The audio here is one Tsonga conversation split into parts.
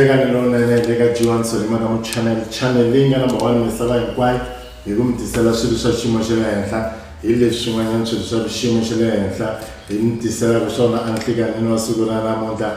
nhlekani lowunene le ka g1 solima ka muchannel channel leyi nga number one misava hinkwayo hi ku mi tisela swilo swa xiyimo xa le henhla hi leswi swin'wanyana swilo swa xiyimo xa le henhla hi mi tiselaka swona a nhlekanini wa siku ra namuntlha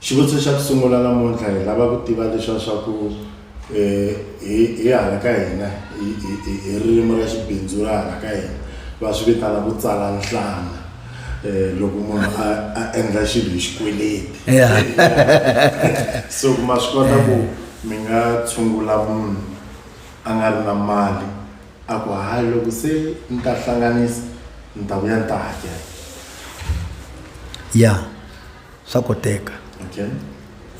Xivutiso xa ku sungula namuntlha hi lava ku tiva leswa swa ku um hi hi hala ka hina hi ririmi ra xibindzu ra hala ka hina va swi vitana ku tsala nhlana um loko munhu a a endla xilo hi xikweleti so ma swi kota ku mi nga tshungula munhu a nga ri na mali a ku hayi loko se ni ta hlanganisa ni ta vuya ni ta hakela ya. swa koteka okay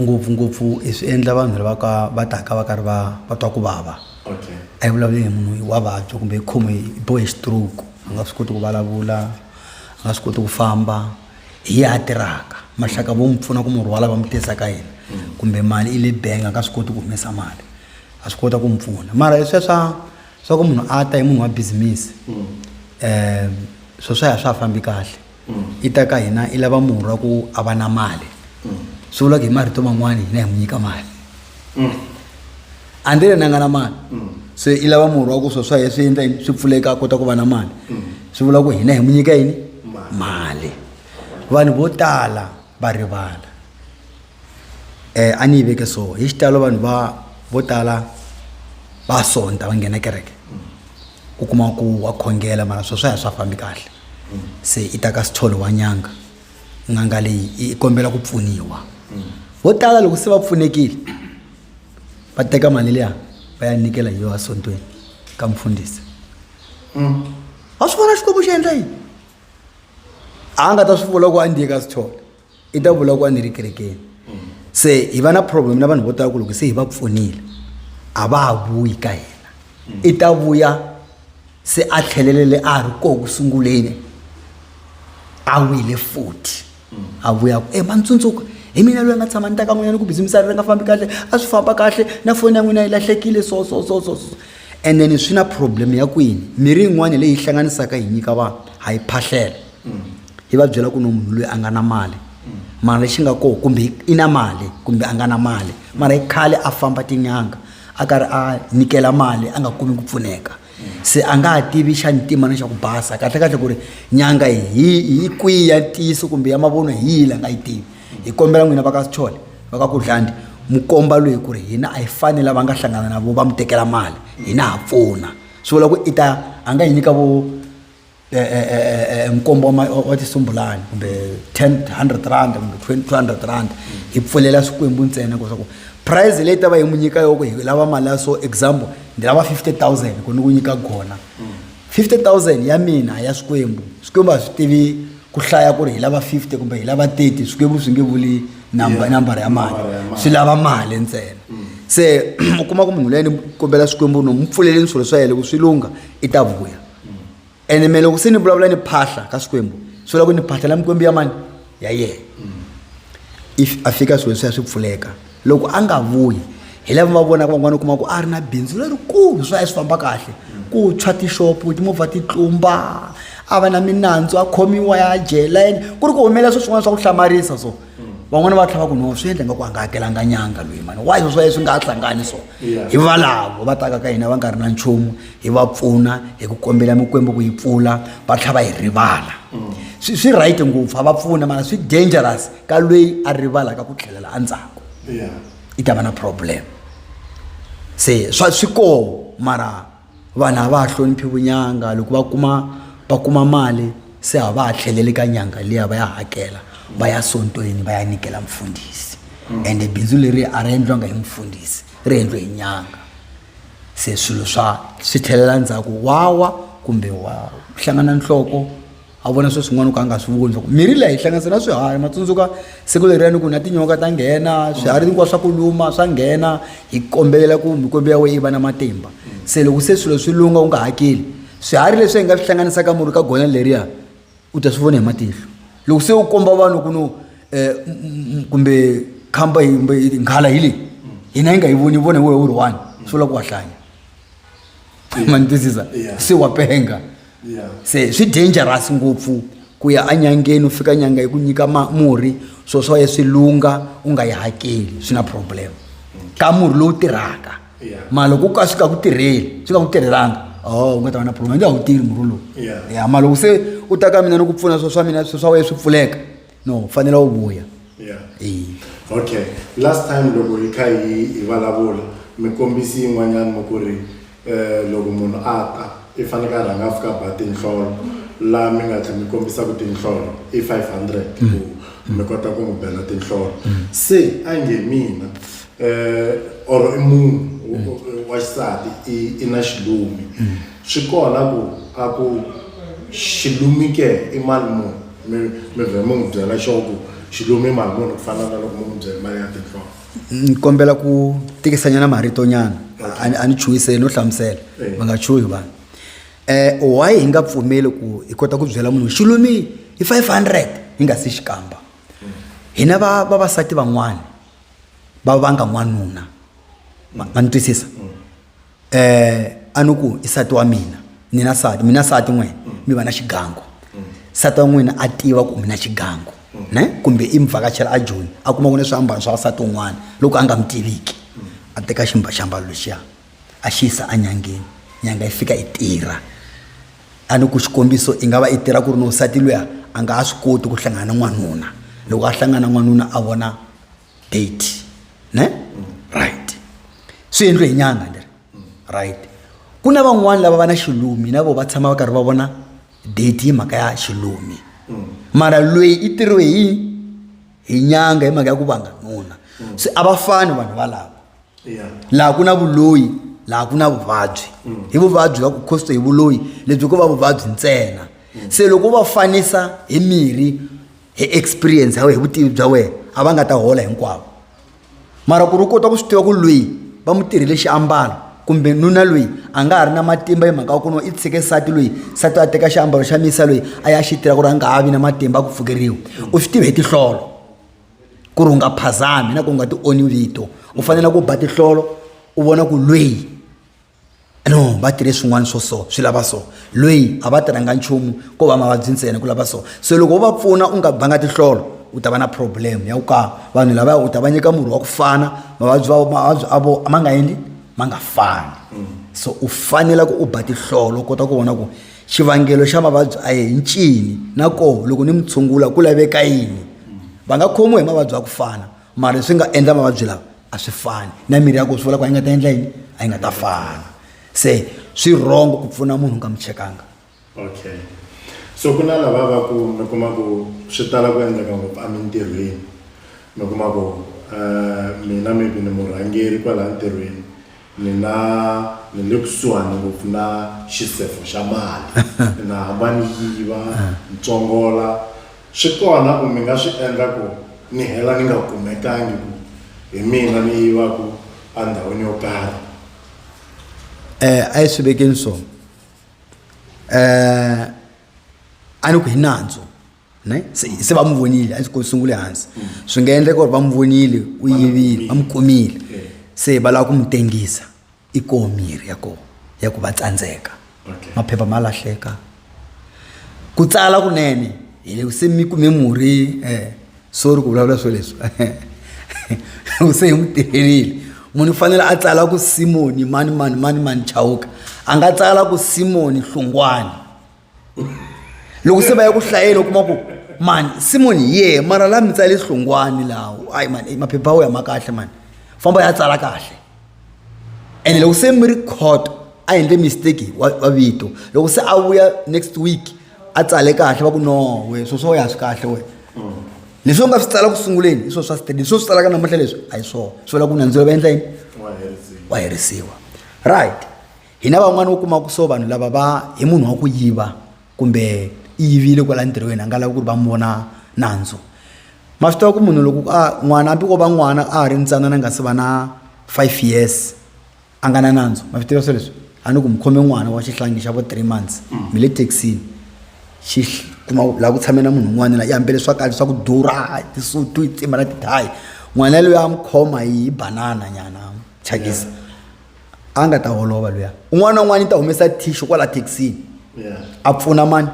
ngopfungopfu hi swi endla vanhu lava ka va taka va karhi va va twa ku vava okay a yi vulavuli hi munhu wa vabya kumbe hi khome hi bohe hi stroke a nga swi koti ku vulavula a nga swi koti ku famba hi ya a tirhaka maxaka vo n'wi pfuna ku murhi wa lava mi tisa ka yena kumbe mali i le bank a nga swi koti ku humesa mali a swi kota ku mi pfuna mara hi sweswa swa ku munhu a ta hi munhu wa business um swo swa ya swa ha fambi kahle i ta ka hina i lava murhi wa ku a va na mali swi vula ku hi marito man'wana hina hi n'wi nyika mali andile na nga na mali se i lava murhi wa ku swo swa ye swi endla yini swi pfuleka a kota ku va na mali swi vula ku hina hi n'wi nyika yini mali vanhu vo tala va rivala um a ni yi veke so hi xitalo vanhu va vo tala va sonta va nghena kereke u kuma ku wa khongela mara swo swa ya swa fambi kahle se i ta ka sitholo wa nyanga n'anga leyi i i kombela ku pfuniwa vo tala loko se va pfunekile va teka mali liya va ya nyikela hi yona esontweni ka mfundhisi a swi vona xikwembu xi endla yini a nga ta swi vula ku a ndiye ka sithole i ta vula ku a ni ri kerekeni se hi va na problem na vanhu vo tala ku loko se hi va pfunile a va ha vuyi ka hina i ta vuya se a tlhelelele a ha ri koho ku sunguleni a wile futhi a vuya ku e ma ni tsundzuka hi mina loyi a nga tshama ni ta ka n'wina ni ku bizimisari ri nga fambi kahle a swi famba kahle na foni ya n'wina yi lahlekile so so so so so and then swi na problem ya kwini mirhi yin'wana leyi hlanganisaka hi nyika vanhu ha yi phahlela yi va byela ku no munhu loyi a nga na mali mara lexi nga kona kumbe i na mali kumbe a nga na mali mara i khale a famba tin'anga a karhi a nyikela mali a nga kumi ku pfuneka se a nga ha tivi xa ntima na xa ku basa kahlekahle ku ri nyanga hi hi kwihi ya ntiyiso kumbe ya mavunwa hi yihi la nga yi tivi hi kombela n'wina va ka sichole va ka kudlandi mu komba loyi ku ri hina a hi fani lava nga hlangana na vo va mu tekela mali hina ha pfuna swi vula ku i ta a nga hi nyika vo eh, eh, eh, eh nkombo wa ma- wa wa tisumbulani kumbe 10 100 rand kumbe 20 200 rand hi pfulela swikwembu ntsena ku swaku prize leyi ta va hi mu nyika yoko hi lava mali ya so example ndi lava 50000 ku ni ku nyika gona 50000 ya mina a ya swikwembu swikwembu a swi tivi ku hlaya ku ri hi lava 50 kumbe hi lava 30 swikwembu swi nge vuli namba Yeah. nambara ya mali Nambara ya mali. swi lava mali ntsena se u kuma ku munhu leyi ni kombela swikwembu no mu pfuleleni swilo swa yena loko swi lungha i ta vuya ene me loko se ni vulavula ni phahla ka swikwembu swi loko ni phahla la mikwembu ya mani ya yena if a fika swilo swi ya swi pfuleka loko a nga vuyi hi lava va vonaka van'wana u kuma ku a ri na bindzu lerikulu swi ya swi famba kahle ku tshwa tixopo timovha ti tlumba a va na minandzu a khomiwa ya jela ku ri ku humelela swo swin'wana swa ku hlamarisa so van'wana va tlhava ku no swi endle nga ku a nga hakelanga nyanga loyi mani wa swo swi nga hlangani so hi valavo va taka ka hina va nga ri na nchumu hi va pfuna hi ku kombela mikwembu ku yi pfula va tlhava hi rivala mm. swi swi right ngopfu a va pfuna mara swi dangerous ka loyi a rivalaka ku tlhelela endzhaku i ta va na problem se swa swi koho mara vanhu a va ha hloniphi vunyanga loko va kuma va kuma mali se a va ha tlheleli ka nyanga liya va ya hakela va ya sontweni va ya nyikela mfundhisi ende bindzu leri a ri endliwanga hi mfundhisi ri endliwe hi nyanga se swilo swa swi tlhelela ndzhaku wawa kumbe wa hlangana nhloko a vona swilo swin'wana ku a nga swi voni loko mirhi leyi hlanganisa na swiharhi matsundzuka siku leriyani ku na tinyoka ta nghena swiharhi hinkwaswo swa ku luma swa nghena hi kombelela ku mikwembu ya wena yi va na matimba se loko se swilo swi lunga u nga hakeli swiharhi leswi hi nga swi hlanganisaka murhi ka gona leriya u ta swi vona hi matihlo loko se u komba vanhu ku no um kumbe khamba kumbe nghala hi leyi hina yi nga yi voni vona hi wehe u ri one swi vula ku wa hlanya ma ni twisisa se wa penga yeah. yeah. se swi dangerous ngopfu ku ya enyangeni u fika nyanga yi ku nyika murhi swo swa ye swi lungha u nga yi hakeli swi na problem ka murhi lowu tirhaka yeah. ma loko ku ka swi ka ku tirheli swi ka ku tirhelanga o oh, u nga ta va na problem nge a wu tirhi murhi lowu yeah. yeah, ma loko se u ta ka mina ni ku pfuna swo swa mina swo swa wena swi pfuleka no u fanele u vuya yeah. e. okay last time loko hi kha hi hi vulavula mi kombisi yin'wanyana mi ku ri um loko munhu a ta i faneke a rhanga a fika ba tinhlolo laha mi nga tlhela mi kombisaka tinhlolo i five hundred mm. ku mi kota ku n'wi bela tinhlolo mm. se a nge mina um or i munhu mm. wa xisati i na xilumi swi kona ku a ku xilumi ke i mali munhu mi mi vhe mi n'wi byela xo ku xi lumi mali muni ku fana na loko mi n'wi byele mali ya tinhloko ni kombela ku tikisanyana maritonyana a ni- a ni chuhiseli no hlamusela Eh. va nga chuhi vanhu um why hi nga pfumeli ku hi kota ku byela munhu xi lumi hi 500 hi nga si xikamba hina va vavasati van'wana va vanga n'wanuna ma ma ni twisisa eh a ni ku i sati wa mina ni na sati mina sati n'wina mi va na xigangu sati wa n'wina a tiva ku mi na xigangu ne kumbe i mi vhakachela a joni a kuma ku ni swiambalo swa vasati un'wana loko a nga mi tiviki a teka ximba xiambalo lexiya a xi yisa enyangeni nyanga yi fika yi tirha a ni ku xikombiso i nga va i tirha ku ri ni wansati luya a nga ha swi koti ku hlangana na n'wanuna loko a hlangana na n'wanuna a vona date ne right swi endliwe hi nyanga leri right ku na van'wani lava va na xilumi na vo va tshama va karhi va vona date hi mhaka ya xilumi mara loyi i tirhiwe hi hi nyanga hi mhaka ya ku vanga nuna se a va fani vanhu valava laha ku na vuloyi laha ku na vuvabyi hi vuvabyi va ku khosto hi vuloyi lebyi ko va vuvabyi ntsena se loko va fanisa hi mirhi hi experience ya wena hi vutivi bya wena a va nga ta hola hinkwavo mara ku ri u kota ku swi tiva ku lweyi va mu tirhile xiambalo kumbe nuna lweyi a nga ha ri na matimba hi mhaka ya ku no i tshike nsati lweyi nsati a teka xiambalo xa misa lweyi a ya xi tirha ku ri a nga ha vi na matimba a ku pfukeriwa u swi tive hi tihlolo ku ri u nga phazami na ku u nga ti oni vito u fanele ku ba tihlolo u vona ku lweyi no va tirhe swin'wana swo so swi lava so loyi a va tirhanga nchumu ko va mavabyi ntsena ku lava so se loko wo va pfuna u nga banga tihlolo u ta va na problem ya ku ka vanhu lavaya u ta va nyika murhi wa ku fana mavabyi va mavabyi a vo ma nga endli ma nga fani mm. so u fanela ku u ba tihlolo u kota ku vona ku xivangelo xa mavabyi a ye hi ncini na koho loko ni mi tshungula ku laveka yini va nga khomiwa hi mavabyi ya ku fana mara swi nga endla mavabyi lawa a swi fani na mirhi ya ku swi vula ku a yi nga ta endla yini a yi nga ta fana se swi rhongo ku pfuna munhu u nga mi chekanga okay so ku na lava va ku mi kuma ku swi tala ku endleka ngopfu emintirhweni mi kuma ku um mina maybe ni murhangeri kwalaha ntirhweni Mina ni le kusuhani ngopfu na xisefo xa mali ni nga hamba ni yiva ni tsongola swi kona ku mi nga swi endla ku ni hela ni nga kumekangi ku hi mina ni yivaku endhawini yo karhi Eh, a yi swi vekeni so eh, a ni ku hi nandzu ne se se va n'wi vonile a ndzi ko sungule hansi swi nga endleka ku ri va n'wi vonile u yivile va n'wi kumile Eh. se va lava ku n'wi tengisa i koho mirhi ya koho ya ku va tsandzeka Okay. maphepha ma lahleka ku tsala kunene hi le se mi kume murhi eh sorry ku vulavula swo leswi u se hi n'wi tirhelile munhu u fanele a tsala ku simoni mani mani mani mani chawuka a nga tsala ku simoni hlungwani loko se va ya ku hlayela u kuma ku mani simon ye mara la mi tsale hlungwani lawo ayi mani eh, maphepha wo ya ma kahle mani famba ya tsala kahle ene loko se mi ri court a endle mistake wa vito loko se a vuya next week a tsale kahle va ku no we swo swo ya swi kahle we leswi u nga swi tsala ku sunguleni hi swo swa state leswi u swi tsalaka namuntlha leswi a hi swona swi vula ku nandzilo va endla yini wa herisiwa right hina van'wana u kuma ku so vanhu lava va hi munhu wa ku yiva kumbe i yivile kwala ntirhweni a nga lavi ku ri va n'wi vona nandzu ma swi tiva ku munhu loko a n'wana hambi ko va n'wana a ha ri ntsanana nga se va na five years a nga na nandzu ma swi tiva swo leswi a ni ku mi khome n'wana wa xihlangi xa vo three months mm. mi le taxini xi kuma laha ku tshamela munhu un'wana la yambele swakali swa ku durha tisutu yi tsimba na tidhayi n'wana loyi a mi khoma hi banana nyana chakisa yeah. a nga ta holova luya un'wana na un'wana i ta humesa thisho kwala thekisini a pfuna mani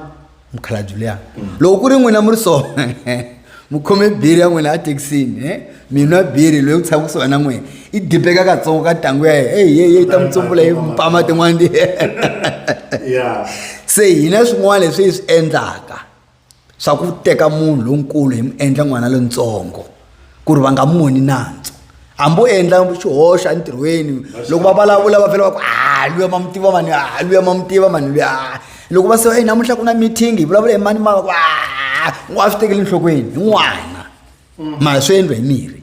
mukhalabyi luya loko ku ri n'wina mi ri so mi khome biri ya n'wina a thekisini e mina biri loyi ku tshama kusuhi na n'wina i dibeka katsongo ka ntangu ya yena eyi yeyi ta mi tsumbula hi mpama tin'wana se hina swin'wana leswi hi swi endlaka swa ku teka munhu lonkulu hi mu endla n'wana lontsongo ku ri va nga moni nandzu hambi u endla xihoxo entirhweni loko va vulavula va vhela va ku a luya ma n'wi tiva mani a luya ma n'wi tiva mani luya loko va se e namuntlha ku na meeting hi vulavula hi mani mava ku a n'wa swi tekeli enhlokweni hi n'wana mm. mara swi endliwa hi mirhi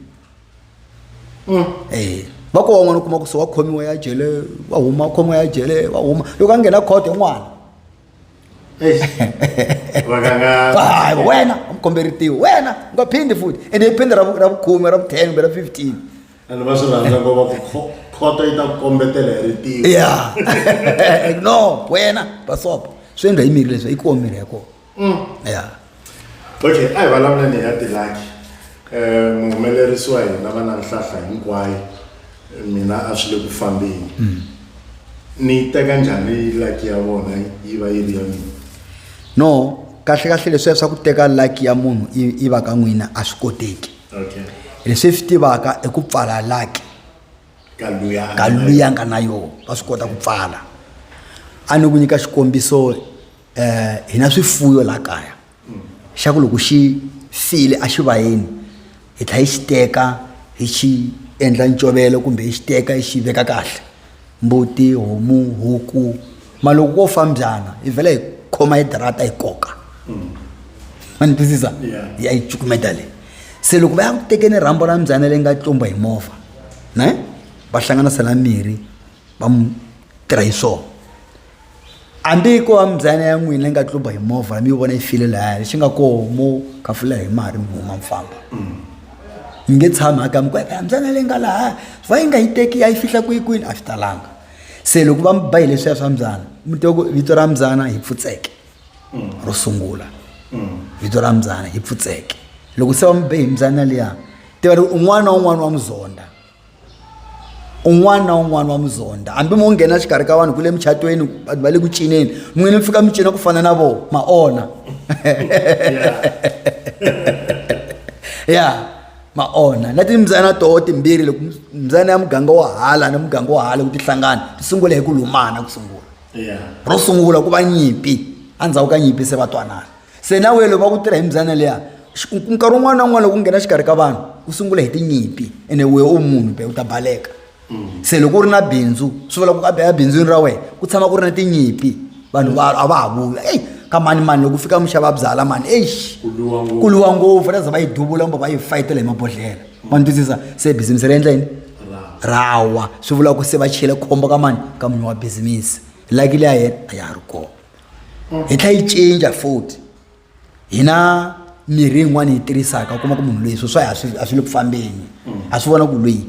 mm. e va ko wan'wana u kuma ku se wa khomiwa ya jele wa huma khomiwa ya jele wa huma loko a nghena khoto hi n'wana hayi wena umkomberitiwe wena ungaphindi futhi and iphinde rabukhume rabu-ten kumbe rabu-fifteen and va swi rhandza ku va khoto yi ta ku kombetela hi ritiwo ya no wena basopo swi endla yi miri leswi yi kuwa miri ya kona mm. ya okay a hi vulavula ni ya tilaki um muhumelerisi wa hina va na nhlahla hinkwayo mina a swi le ku fambeni mm. ni yi teka njhani laki ya vona yi va yi ri ya mina no kahle kahle leswiya swa ku teka laki ya munhu yi va ka n'wina a swi koteki leswi swi tivaka i ku pfala laki ka luya nga na yona va swi kota ku pfala a ni ku nyika xikombiso eh hina swifuyo la kaya xa ku loko xi file a xi vayeni hi tlha hi xi teka hi xi endla ncovelo kumbe hi xi teka hi xi veka kahle mbuti homu huku ma loko ko fa mbyana hi vhela hi khoma hi darata hi koka ma ni twisisa hi ya yi cukumeta leyi se loko va ya ku tekeni rhambo ra mbyana leyi nga tlumba hi movha ne va hlanganisela mirhi va mu tirha hi swona hambi ko va mbyana ya n'wina yi nga tluba hi movha mi yi vona yi file lahaya lexi nga koho mo kafula hi mari mi huma mi famba mi nge tshami aka mi ku eka mbyana leyi nga lahaya va yi nga yi teki a yi fihla kwihi kwini a swi talanga se loko va mi ba hi leswiya swa mbyana mi twa ku vito ra mbyana hi pfutseke ro sungula vito ra mbyana hi pfutseke loko se va mi be hi mbyana liya tiva ri un'wana na un'wana wa muzonda un'wana na un'wana wa muzonda hambi mo nghena xikarhi ka vanhu ku le muchatweni vanhu va le ku cineni n'wini mi fika mi cina ku fana na vona ma ona ya ma ona na timbyana toho timbirhi loko mbyana ya muganga wa hala na muganga wa hala ku ti hlangana ti sungula hi ku lumana ku sungula ro sungula ku va nyimpi endzhaku ka nyimpi se va twanana se na wena loko va ku tirha hi mbyana liya nkarhi wun'wana na wun'wana loko u nghena xikarhi ka vanhu u sungula hi tinyimpi ene we u munhu be u ta baleka mm. se loko u ri na bindzu swi vula ku a bindzwini ra wena ku tshama ku ri na tinyimpi vanhu va a va ha vula eyi ka mani mani loko u fika muxava byala mani eish ku luwa ngopfu ra za va yi duvula kumbe va yi fayitela hi mabodhlela ma ni twisisa se bizimusi ri endla yini rawa swi vula ku se va chele khombo ka mani ka munhu wa bizimusi laki liya yena a ya ha ri kona hi tlhela yi cinca futhi hi na mirhi yin'wana yi tirhisaka u kuma ku munhu loyi swo swa a swi a swi le ku fambeni a swi vona ku loyi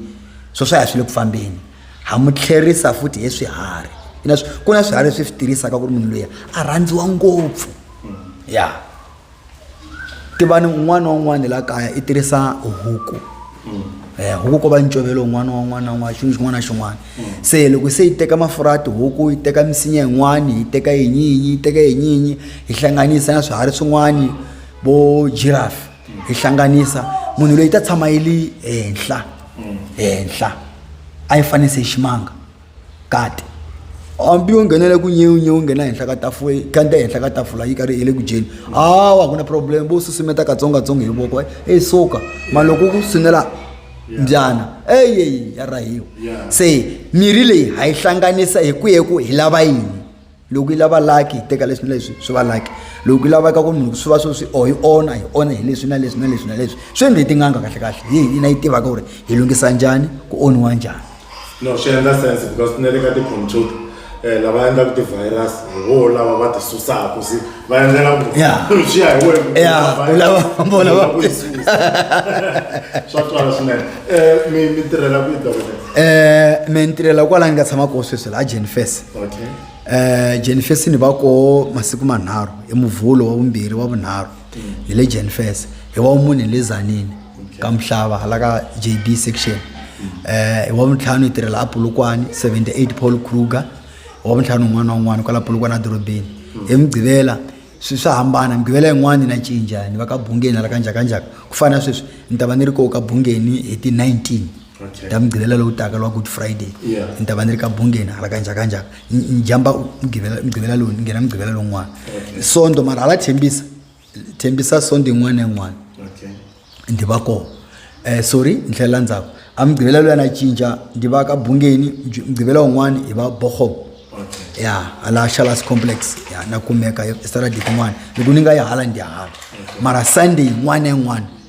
swo swa a swi le ku fambeni ha mu tlherisa futhi hi swiharhi ku na swiharhi leswi swi tirhisaka ku ri munhu loyi a rhandziwa ngopfu ya tivani un'wana na un'wana la kaya i tirhisa huku eh, huku ko va ncovelo un'wana wa un'wana na un'wana xin'wana xin'wana na xin'wana se loko se yi teka mafurha ya tihuku yi teka misinya yin'wani yi teka yinyinyi yi teka yinyinyi yi hlanganisa na swiharhi swin'wani vo giraffe yi hlanganisa munhu loyi ta tshama yi ri henhla henhla a yi fanise ximanga Gade, Hambi yo nghenela ku nyewu nyewu nghena henhla ka tafula kanda henhla ka tafula yi karhi hi le ku dyeni hawa ku na problem vo susumetaka katsongokatsongo hi voko eyi suka ma loko ku sunela mbyana eyi ya rahiwa se mirhi leyi ha yi hlanganisa hi ku hi ku hi lava yini loko yi lava laki hi teka leswi na leswi swi va laki loko yi lavaka ku munhu swi va swo swi or yi onha hi onha hi leswi na leswi na leswi na leswi swi endle hi tin'anga kahle kahle hi hi na yi tivaka ku ri hi lunghisa njhani ku onhiwa njhani no swi endla sense because ni le ka ti-computer um lava endlaka ti-virus hi voho lava va ti susaka se va endlela ku Yeah. swi ya hi wena Yeah, u lava- vona va- swa twala swinene um mi mi tirhela ku yi dokotela um me ni tirhela kwala ni nga tshama koho sweswi laha jenifes okay um jenifes ni va koho masiku manharhu hi muvhulo wa vumbirhi wa vunharhu ni le jenifes hi wa mune hi le zanini ka mhlava hala ka j b section um hi wa vuntlhanu hi tirhela apulukwani 78 paul kruger hi wa vuntlhanu un'wana na un'wana kwala apulukwani edorobeni hi mugqivela swi swa hambana mugqivela yin'wana ni na cinca ni va ka bungeni hala kanjakanjaka ku fana na sweswi ni ta va ni ri koho ka bungeni hi ti-19 okay. ya mugqivela lowu taka lwa good friday yeah. ni ta va ni ri ka bungeni hala kanjakanjaka njhamba mugqivela lowu ni nghena mugqivela lowun'wana okay. sondo mara hala thembisa thembisa sondo yin'wana na yin'wana okay. ndi va kona eh, sorry ni tlhelela ndzhaku a mugqivela loyi a na cinca ndi va ka bungeni mugqivela wun'wana hi va bohob okay. ya hala shalas complex ya na kumeka esaradiki n'wana loko ni nga yi hala ndi hala okay. mara sunday yin'wana na yin'wana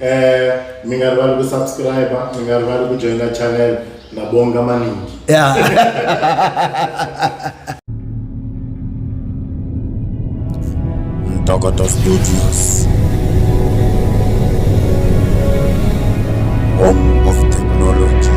Eh, mi nga rivali ku subscribe mi nga rivali ku joina channel na bonga maningi yeah. Ntokoto Studios Home of Technology